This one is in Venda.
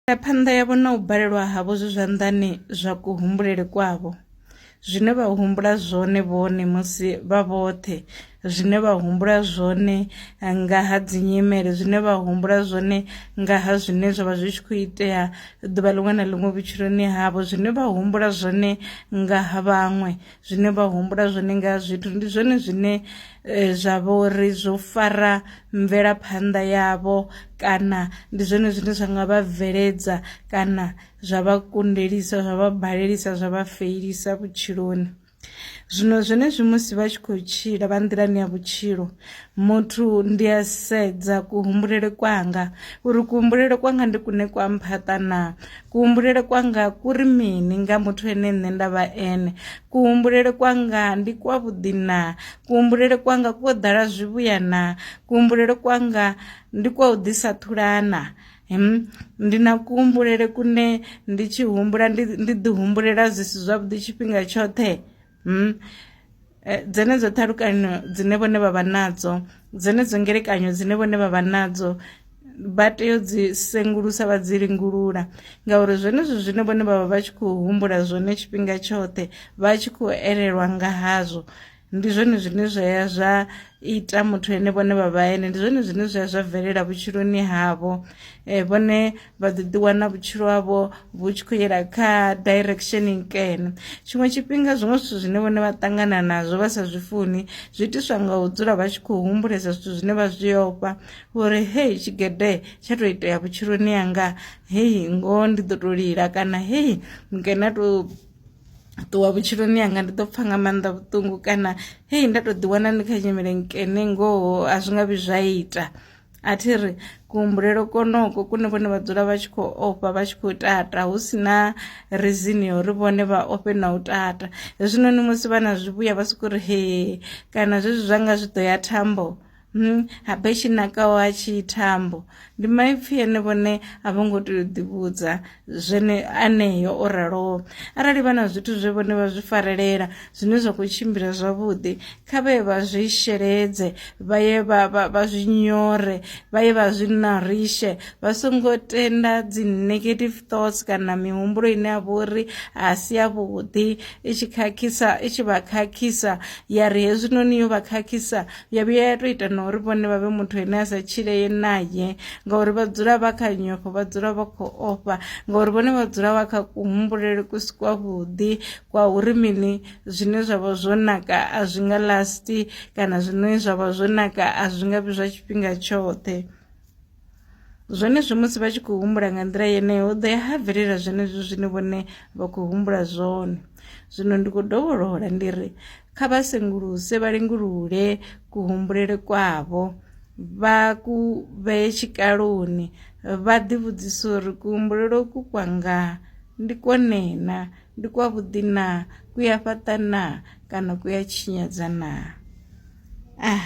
Mvelaphanḓa yavho na u balelwa havho zwi zwanḓani zwa kuhumbulele kwavho. Zwine vha humbula zwone vhone musi vha vhoṱhe, zwine vha humbula zwone eh, nga ha dzinyimele, zwine vha humbula zwone nga ha zwine zwa vha zwi tshi khou itea ḓuvha ḽiṅwe na ḽiṅwe vhutshiloni havho, zwine vha humbula zwone nga ha vhaṅwe, zwine vha humbula zwone nga zwithu ndi zwone zwine eh, zwa vha uri zwo fara mvelaphanḓa yavho kana ndi zwone zwine zwa nga vha bveledza kana zwa vha kundelisa zwa vha balelisa zwa vha feilisa vhutshiloni zwino zwenezwi musi vha tshi khou tshila vha nḓilani ya vhutshilo muthu ndi a sedza kuhumbulele kwanga uri kuhumbulele kwanga ndi kune kwa mphaṱa na kuhumbulele kwanga ku ri mini nga muthu ene nṋe nda vha ene kuhumbulele kwanga ndi kwa vhuḓi na kuhumbulele kwanga kwo ḓala zwivhuya na kuhumbulele kwanga ndi kwa u ḓisa thulana ndi na kuhumbulele kune ndi tshi humbula ndi ḓi humbulela zwi si zwavhuḓi tshifhinga tshoṱhe hmm? Eh, dzenedzo ṱhalukanyo dzine vhone vha vha nadzo dzenedzo ngelekanyo dzine vhone vha vha nadzo vha tea u dzi sengulusa vha dzi lingulula ngauri zwenezwo zwine vhone vha vha vha tshi khou humbula zwone tshifhinga tshoṱhe vha tshi khou elelwa nga hazwo ndi zwone zwine zwa ya zwa ita muthu ene vhone vha vha ene ndi zwone zwine zwa ya zwa bvelela vhutshiloni havho um vhone vha ḓo ḓiwana vhutshilo havho vhu tshi khou yela kha direction nkene tshiṅwe tshifhinga zwiṅwe zwithu zwine vhone vha ṱangana nazwo vha sa zwi funi zwi itiswa nga u dzula vha tshi khou humbulesa zwithu zwine vha zwi ofha uri hei tshigede tsha tou itea vhutshiloni yanga hei ngoho ndi ḓo tou lila kana hei nkene a tou ṱuwa vhutshiloni yanga ndi ḓo pfha nga maanḓa vhuṱungu kana hei nda tou ḓiwana ndi kha nyimele nkene ngoho a zwi nga vhi zwa ita a thi ri kuhumbulelo konoko kune vhone vha dzula vha tshi khou ofha vha tshi khou tata hu si na rizini ya uri vhone vha ofhe na u tata hezwinoni musi vha na zwivhuya vha sokou ri he kana zwezwi zwa nga zwi ḓo ya thambo hmm, habe tshi nakaho ha tshi thambo ndi maipfhi ene vhone a vho ngo tea u ḓivhudza zwene aneyo o raloho arali vha na zwithu zwe vhone vha zwi farelela zwine zwa khou tshimbila zwavhuḓi kha vhe vha zwi sheledze vha ye vha zwi nyore vha ye vha zwi narishe vha songo tenda dzi negative thoughts kana mihumbulo ine ya vha uri a si ya vhuḓi i tshi khakhisa i tshi vha khakhisa ya ri hezwinoni yo vha khakhisa ya vhuya ya to ita na uri vhone vha vhe muthu ane a sa tshileye naye ngauri vha dzula vha kha nyofho vha dzula vha khou ofha ngauri vhone vha dzula vha kha kuhumbulele ku si kwavhuḓi kwa uri mini zwine zwa vha zwo naka a zwi nga lasti kana zwine zwa vha zwo naka a zwi nga vhi zwa tshifhinga tshoṱhe Zwenezwi musi vha tshi khou humbula nga nḓila yeneyo hu ḓo ya ha bvelela zwenezwi zwine vhone vha khou humbula zwone zwino ndi khou dovholola ndi ri kha vha senguluse vha lingulule kuhumbulele kwavho vha ku vhee tshikaloni vha ḓivhudzisa uri kuhumbulelo ku kwanga ndi kwone na ndi kwa vhuḓi na ku ya fhaṱa na kana ku ya tshinyadza na ah